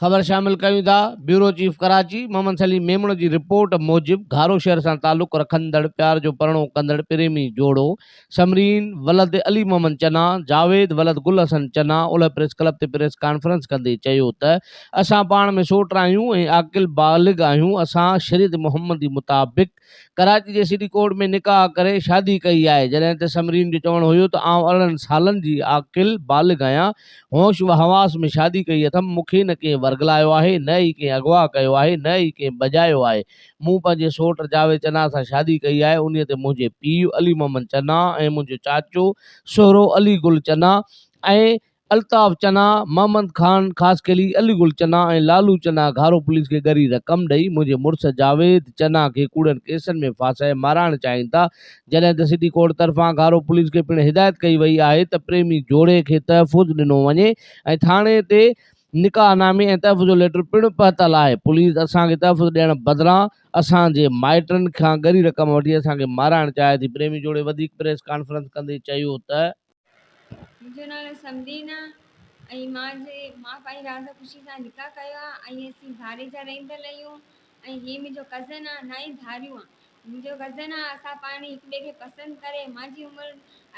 خبر شامل ڪيون ٿا بيورو چيف ڪراچي محمد سليم ميمڻ جي رپورٽ موجب گهارو شهر سان تعلق رکندڙ پيار جو پرڻو ڪندڙ پريمي جوڙو سمرين ولد علي محمد چنا جاويد ولد گل حسن چنا اولهه پريس ڪلب تي پريس ڪانفرنس ڪندي چيو ته اسان پاڻ ۾ سوٽ آهيون ۽ عاقل بالغ آهيون اسان شريعت محمدي مطابق ڪراچي جي سٽي ڪورٽ ۾ نڪاح ڪري شادي ڪئي آهي جڏهن ته سمرين جو چوڻ هيو ته آئون ارڙهن سالن جي عاقل بالغ آهيان هوش و حواس ۾ شادي ڪئي اٿم مون کي نه ڪنهن ورغلايو آهي نه ئي ڪنهن اغوا ڪيو آهي نه ئي ڪنهن بجايو آهي مون پنهنجي سوٽ جاويد چنا سان شادي ڪئي آهي انهي تي منهنجي پيء علي محمد چنا ۽ منهنجو چاچو سهرو علي گل چنا ۽ الطاف چنا، محمد خان خاصخيلي، علي گل چنا ۽ لالو چنا گهارو پوليس کي ڳري رقم ڏئي منهنجي مڙس جاويد چنا کي ڪوڙن ڪيسن ۾ ڦاسائي مارائڻ چاهين ٿا جڏهن ته سٽي ڪورٽ طرفان گهارو پوليس کي پڻ هدايت ڪئي وئي آهي ته پريمي جوڙي کي تحفظ ڏنو وڃي ۽ ٿاڻي تي نڪاح نامي ۽ تحفظ جو ليٽر پڻ پهتل آهي پوليس اسان کي تحفظ ڏيڻ بدران اسان جي مائٽن کان ڳري رقم وٺي اسان کي مارائڻ چاهي ٿي پريمي جوڙي وڌيڪ پريس ڪانفرنس ڪندي چيو ته منهنجو نالو سمرين آ ۽ مان جي مان پنهنجي راضي خوشي سان نڪاح ڪيو آ ۽ اسين ڌاري جا رهندڙ رهيون ۽ هي منهنجو ڪزن آ نه ئي ڌاريون آ منهنجو ڪزن آ اسان پاڻ هڪ ٻئي کي پسند ڪري مان جي عمر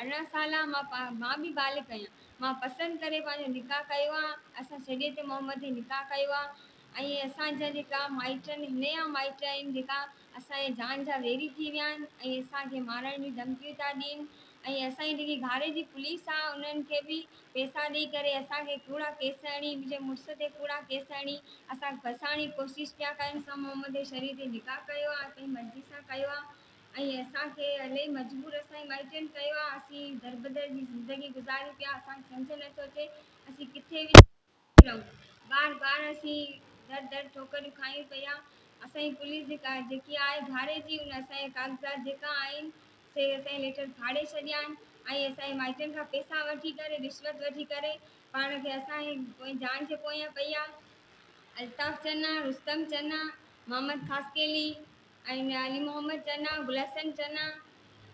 ارڙهن سال آ مان پا مان به بالغ آهيان مان پسند ڪري پنهنجو نڪاح ڪيو آ اسان شريعت محمدي نڪاح ڪيو آ ۽ اسان جا جيڪا مائٽ آهن نيا مائٽ آهن جيڪا اسان جي جان جا ويري ٿي ويا آهن ۽ اسان کي مارڻ جون ڌمڪيون ٿا ڏين ۽ اسان جي جيڪي گهاري جي پوليس آهي انهن کي به پئسا ڏئي ڪري اسان کي ڪوڙا ڪيس هڻي منهنجي مڙس تي ڪوڙا ڪيس هڻي اسان کي ڦاسائڻ جي ڪوشش پيا ڪن. اسان محمد جي شريعت تي نڪاح ڪيو آهي پنهنجي مرضي سان ڪيو آهي ۽ اسان کي الائي مجبور اسان جي مائٽن ڪيو آهي اسين دربدر جي زندگي گذاريون پيا اسان کي سمجهه نٿو اچي اسين ڪٿي وڃون. رهون. بار بار اسين در در ٺوڪريون کايون پيا. اسان جي پوليس جي ڪار جيڪي آئي ڀاڙي جي ان اسان جا ڪاغذات جيڪا آهن سي اسان جي ليٽر ڦاڙي ڇڏيا آهن ۽ اسان جي مائٽن کان پيسا وٺي ڪري رشوت وٺي ڪري پاڻ کي اسان جي پوئين جان جي پويان پيا الطاف چنا، رستم چنا، محمد خاصخيلي، ۽ ميان علي محمد چنا، گل حسن چنا،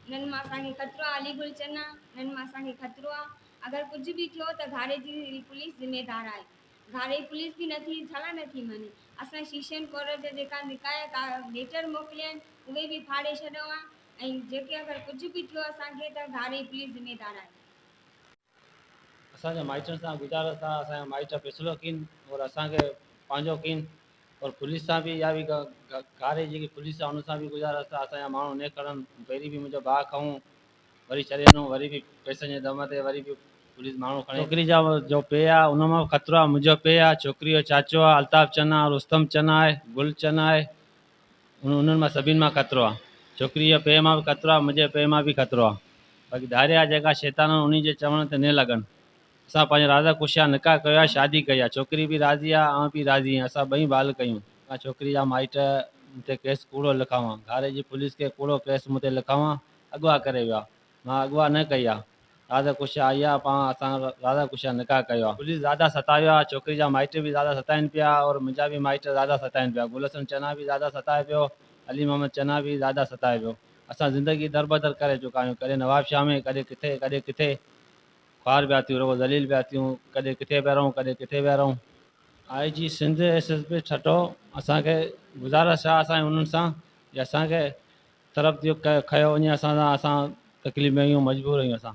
انهن مان اسان کي خطرو آهي، علي گل چنا، انهن مان اسان کي خطرو آهي، اگر ڪجهه به ٿيو ته گهاڙي جي پوليس ذميدار آهي، گهاڙي جي پوليس به نه ٿي ڇالاء نه ٿي مڃي، اسان شيشن ڪورٽ جا جيڪا نڪايا ليٽر موڪليا آهن اهي به ڦاڙي ڇڏئون ها ۽ جيڪي اگر ڪجهه به ٿيو اسان کي ته گهاڙي جي پوليس ذميدار آهي. اسان جا مائٽن سان گذارس ٿا اسان جا مائٽ پيسلو ڪين اور اسان کي پنهنجو ڪين اور پوليس سان به اها به گاري جيڪي پوليس آهي ان سان به گذارس ٿا اسان جا ماڻهو ني کڙن پهرين به منهنجو ڀاء کئون وري ڇڏي ڏنو وري به پيسن جي دم تي وري به پوليس ماڻهو کڻي ڇوڪري جا جو پيء آهي ان مان به خطرو آهي منهنجو پيء آهي ڇوڪري جو چاچو آهي الطاف چنا رستم چنا آهي گل چنا آهي انهن مان سڀني مان خطرو آ. ڇوڪريء جي پيء مان به خطرو آ، منهنجي پيء مان به خطرو آ. باقي ڌاري آ جيڪا شيطانن انهيء جي چوڻ تي نھ لڳن. اسان پنهنجا راضا خوشيان نڪاح ڪيو آ، شادي ڪئي آ. ڇوڪري به راضي آ، آئون به راضي آهيان. اسان ٻئي بال ڪيون. ڪا ڇوڪريء جا مائٽ مون تي ڪيس ڪوڙو لکاون، ڌاري جي پوليس کي ڪوڙو ڪيس مون تي لکاون اغوا ڪري ويو آ. مان اغوا نه ڪئي آ. راضا ڪشا آئي آ پاڻ اسان راضا ڪشا نڪاح ڪيو آ. پوليس راضا ستايو آ. ڇوڪري جا مائٽ به راضا ستائين پيا اور منهنجا به مائٽ راضا ستائين پيا. گل حسن چنا به راضا ستائي پيو. علي محمد چنا به راضا ستائي پيو. اسان زندگي دربدر ڪري چڪا آهيون. ڪڏهن نوابشاهه ۾ ڪڏهن ڪٿي ڪڏهن ڪٿي. خوار پيا ٿيون رڳو ذليل پيا ٿيون. ڪڏهن ڪٿي پيا رهون ڪڏهن ڪٿي پيا رهون. I G Sindh S S P Thatta اسان کي گذارش آ اسان جي انهن سان جي اسان کي طرف ٿيو کيو وڃي اسان سان اسان تڪليف ۾ آهيون مجبور آهيون اسان.